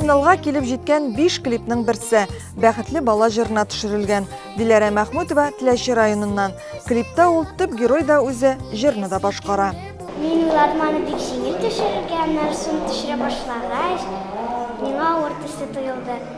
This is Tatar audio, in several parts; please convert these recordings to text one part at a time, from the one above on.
финалга килеп җиткән биш клипның берсе бәхетле бала җырына төшерелгән диләрә мәхмүтова теләче районыннан клипта ул төп герой да үзе җырны да башкара мин ладманы бик җиңел төшерергә аннары соң төшерә башлагач миңа авыр төсле тоелды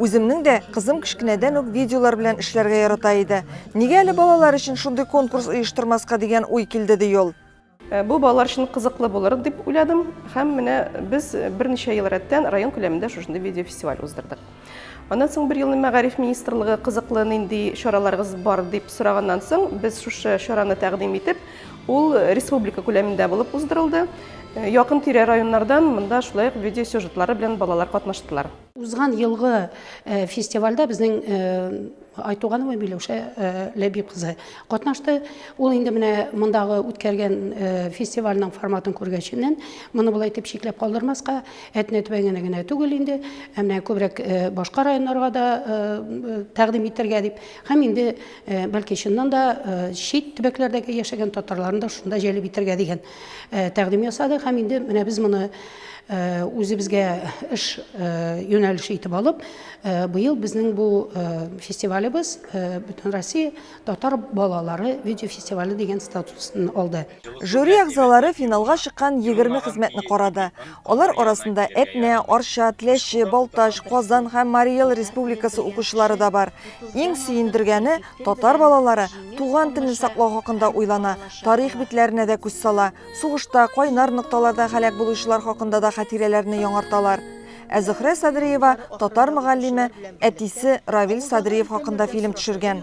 Үземнең дә кызым кечкенәдән үк видеолар белән эшләргә ярата иде. Нигә әле балалар өчен шундый конкурс оештырмаска дигән уй килде, ди ул. Э, бу балалар өчен кызыклы булыр дип уйладым һәм менә без берничә ел рәттән район күләмендә шушындый видеофестиваль уздырдык. Аннан соң бер елны мәгариф министрлыгы кызыклы нинди чараларыгыз бар дип сораганнан соң без шушы чараны тәкъдим итеп, ул республика күләмендә булып уздырылды. Э, якын тирә районнардан монда шулай ук видеосюжетлары белән балалар катнаштылар. Узган елгы фестивальдә безнең Айтуганова Миләүшә Ләбиб кызы катнашты. Ул инде менә мондагы үткәргән фестивальнең форматын күргәченнән, моны болай итеп чикләп калдырмаска, Әтнә төбәгенә генә түгел инде, ә менә күбрәк башка районнарга да тәкъдим итәргә дип, һәм инде бәлки чыннан да чит төбәкләрдәге яшәгән татарларны да шунда җәлеп итәргә дигән тәкъдим ясадык һәм инде менә без моны үзебезгә эш юнәлеше итеп алып, быел безнең бу фестивалебез бөтен Россия татар балалары видеофестивале дигән статусын алды. Жюри әгъзалары финалга чыккан егерме хезмәтне карады. Алар арасында Әтнә, Арча, Тләче, Балтач, Казан һәм Марий Эл Республикасы укучылары да бар. Иң сөендергәне, Татар балалары туган телен саклау хакында уйлана, тарих битләренә дә күз сала, сугышта, кайнар нокталарда һәлак булучылар хакында да хатирәләрне яңарталар. Ә Зөхрә Садриева, татар мөгаллиме, әтисе Равил Садриев хакында фильм төшергән.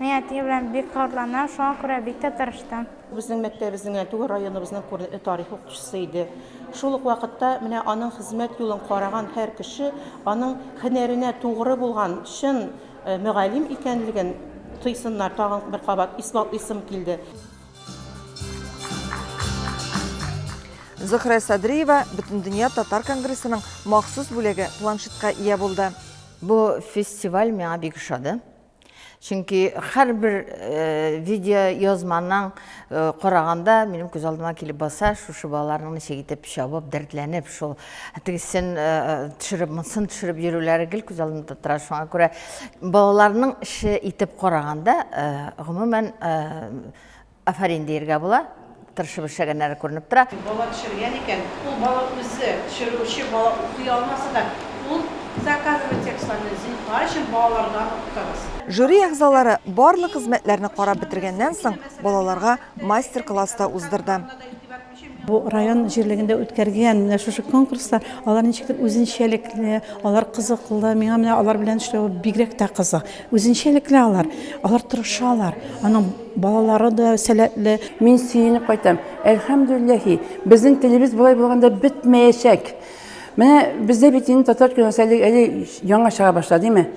Мин әти белән бик кабатланам, шуңа күрә бик тә тырыштым. Безнең мәктәбезнең, ә түгел районыбызның күренекле тарих укытучысы иде. Шул ук вакытта менә аның хезмәт юлын караган һәр кеше аның һөнәренә тугры булган, чын Мөгаллим икәнлеген тойсыннар, тагын бер кабат исбатлыйсым килде. Зөхрә Садриева Бөтендөнья татар конгрессының махсус бүләге планшетка ия булды. Бу фестиваль миңа бик ошады. Чөнки һәрбер э, видео язманың э, караганда минем күз алдыма килеп баса, шушы балаларның ничек итеп чабып, дәртләнеп, шул Тегесен төшереп, монысын төшереп йөрүләре гел күз алдында тора. Шуңа күрә балаларның эше итеп караганда, гомумән, афәрин диергә була. Тырышып эшләгәннәре күренеп тора. Бала төшергән икән, ул бала үзе, төшерүче бала укый алмаса да, ул заказывает текстларны, зинһар өчен, балалардан укытыгыз. Жюри әгъзалары барлык хезмәтләрне карап бетергәннән соң, балаларга мастер-класс та уздырды. Бу район җирлегендә үткәргән менә шушы конкурслар, алар ничектер үзенчәлекле, алар кызыклы. Миңа менә алар белән эшләү бигрәк тә кызык. Үзенчәлекле алар, алар тырышалар. Аның балалары да сәләтле. Мин сөенеп кайтам. Әлхәмдүлилләһи, безнең телебез болай булганда бетмәячәк. Менә бездә бит инде татар киносы әле, әле яңа чыга башлады, димме?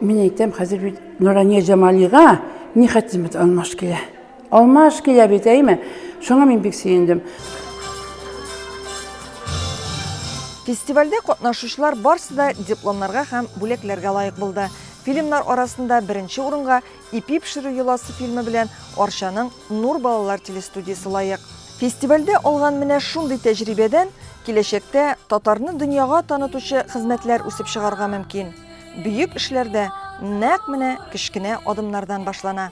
Мин әйтәм, хәзер бит Нурания Җамалига ни хәтле бит алмаш килә. Алма аш килә бит, әйме? Шуңа мин бик сөендем. Фестивальдә катнашучылар барсы да дипломнарга һәм бүләкләргә лаек булды. Фильмнар арасында беренче урынга Ипи пешерү йоласы фильмы белән Арчаның Нур балалар телестудиясе лаек. Фестивальдә алган менә шундый тәҗрибәдән киләчәктә татарны дөньяга танытучы хезмәтләр үсеп чыгарга мөмкин. Бөек эшләр дә нәкъ менә кечкенә адымнардан башлана.